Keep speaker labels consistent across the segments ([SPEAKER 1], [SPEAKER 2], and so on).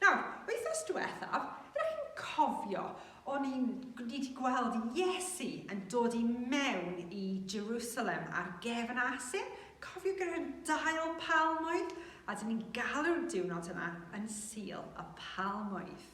[SPEAKER 1] Nawr, wythnos diwethaf, ydych chi'n cofio, o'n i'n, ni wedi gweld Iesu yn dod i mewn i Jerusalem ar gefn asyn? Cofio gyda'r dail palmwydd? A dyn ni'n galw'r diwrnod yna yn Sul y Palmwydd.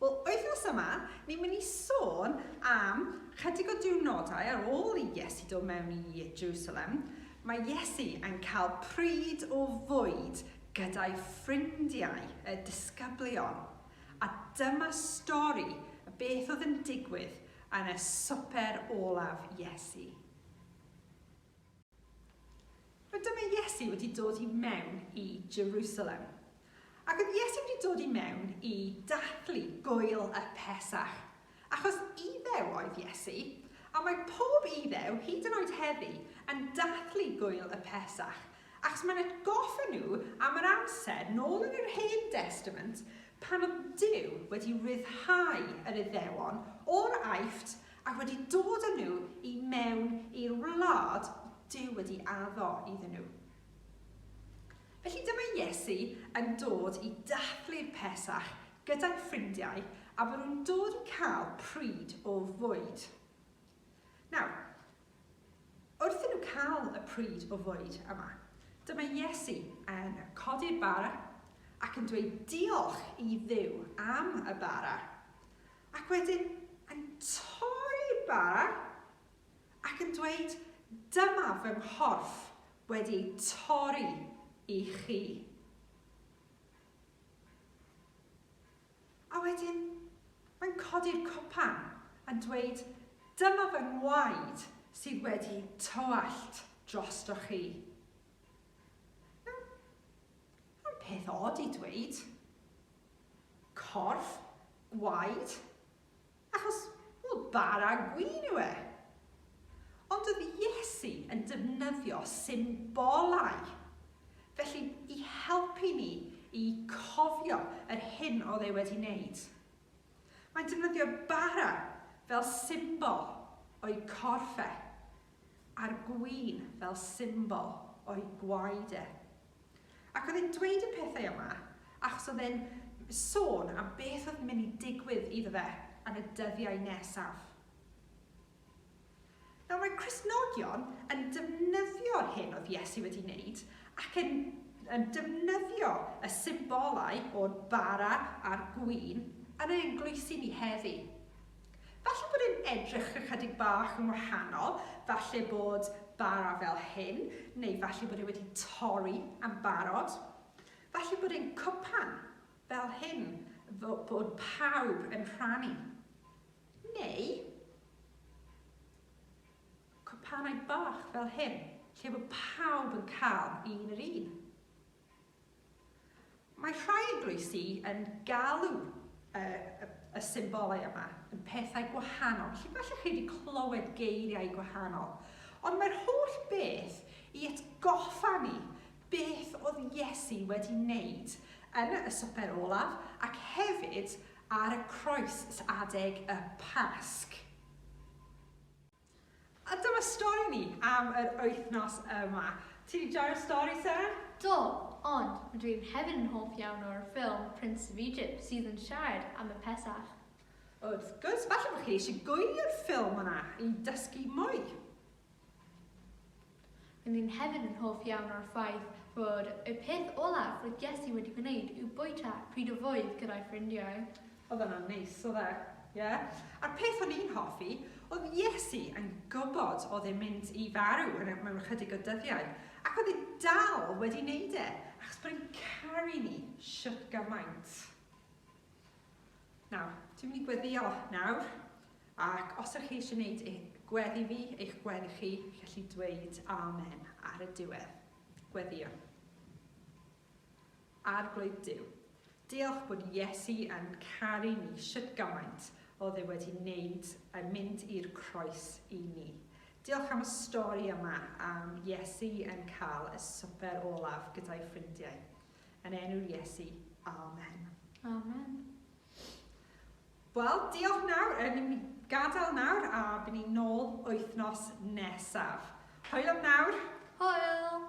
[SPEAKER 1] Wel, wythnos yma, ni'n mynd i sôn am chydig o diwrnodau ar ôl i Iesu dod mewn i Jerusalem. Mae Iesu yn cael pryd o fwyd gyda'i ffrindiau y disgyblion a dyma stori o beth oedd yn digwydd yn y swper olaf Iesu. Nawr dyma Iesu wedi dod i mewn i Jerusalem. Ac oedd Iesu wedi dod i mewn i dathlu gŵyl y Pesach. Achos Iddew oedd Iesu, a mae pob Iddew, hyd yn oed heddi, yn dathlu Gwyl y Pesach, achos mae'n atgoffa nhw am yr amser, nôl yn yr Hen Destament, pan oedd Duw wedi rhyddhau yr Iddewon o'r Aifft ac wedi dod â nhw i mewn i'r wlad oedd Duw wedi addo iddyn nhw. Felly dyma Iesu yn dod i dathlu'r Pesach gyda'i ffrindiau a maen nhw'n dod i cael pryd o fwyd. Nawr, wrth i nhw cael y pryd o fwyd yma, dyma Iesu yn codi'r bara ac yn dweud diolch i Dduw am y bara, ac wedyn yn torri'r bara ac yn dweud, Dyma fy nghorff wedi ei torri i chi. A wedyn, mae'n codi'r cwpan a dweud, Dyma fy ngwaed sydd wedi tywallt drosto chi. Mae'n peth od i dweud. Corff, gwaed, Achos, wel, bara gwin yw e. Ond oedd Iesu yn defnyddio symbolau, felly, i helpu ni i cofio yr hyn oedd e wedi wneud. Mae'n defnyddio bara fel symbol o'i corff e, a'r gwin fel symbol o'i gwaed e. Ac oedd e'n dweud y pethau yma achos oedd e'n sôn am beth oedd mynd i digwydd iddo fe yn y dyddiau nesaf. Nawr mae Cristnogion yn defnyddio'r hyn oedd Iesu wedi wneud ac yn, yn defnyddio y symbolau o'r bara a'r gwin yn ein eglwysi ni heddi. Falle bod e'n edrych ychydig bach yn wahanol, falle bod bara fel hyn, neu falle bod e wedi torri am barod. Falle bod e'n cwpan fel hyn, bod pawb yn rhannu. Neu cwpanau bach fel hyn, lle bod pawb yn cael un yr un. Mae rhai eglwysi yn galw y, y, y symbolau yma yn pethau gwahanol, felly falle chi wedi clywed geiriau gwahanol. Ond mae'r holl beth i atgoffa ni beth oedd Iesu wedi wneud yn y swper olaf ac hefyd ar y croes adeg y Pasg. A dyma stori ni am yr wythnos yma. Ti 'di joio'r stori, Seren? Do,
[SPEAKER 2] ond rydw i hefyd yn hoff iawn o'r ffilm Prince of Egypt sydd yn siarad am y Pesach. Wrth
[SPEAKER 1] gwrs, falle bod chi eisiau gwylio'r ffilm yna i dysgu mwy.
[SPEAKER 2] R'yn ni hefyd yn hoff iawn o'r ffaith fod y peth olaf roedd Jessie wedi gwneud yw bwyta pryd o fwyd gyda'i ffrindiau. Oedd hwnna'n neis,
[SPEAKER 1] oedd e? Ie. A'r peth o'n i'n hoffi, oedd Jessie yn gwybod oedd e'n mynd i farw mewn ychydig o dyddiau, ac oedd e dal wedi 'neud e, achos bod e'n caru ni shwt gymaint. Nawr, dwi'n mynd i gweddio nawr, ac os ydych chi eisiau gwneud eich gweddi fi, eich gweddi chi, gallu dweud amen ar y diwedd. Gweddio. Arglwydd Dyw, diolch bod Iesu yn caru ni sut gymaint oedd e wedi wneud yn mynd i'r croes i ni. Diolch am y stori yma am Iesu yn cael y swper olaf gyda'i ffrindiau. Yn enw Iesu, amen. Amen. Wel, diolch nawr, yn ni'n gadael nawr a bydd ni'n nôl wythnos nesaf. Hwyl am nawr.
[SPEAKER 2] Hwyl!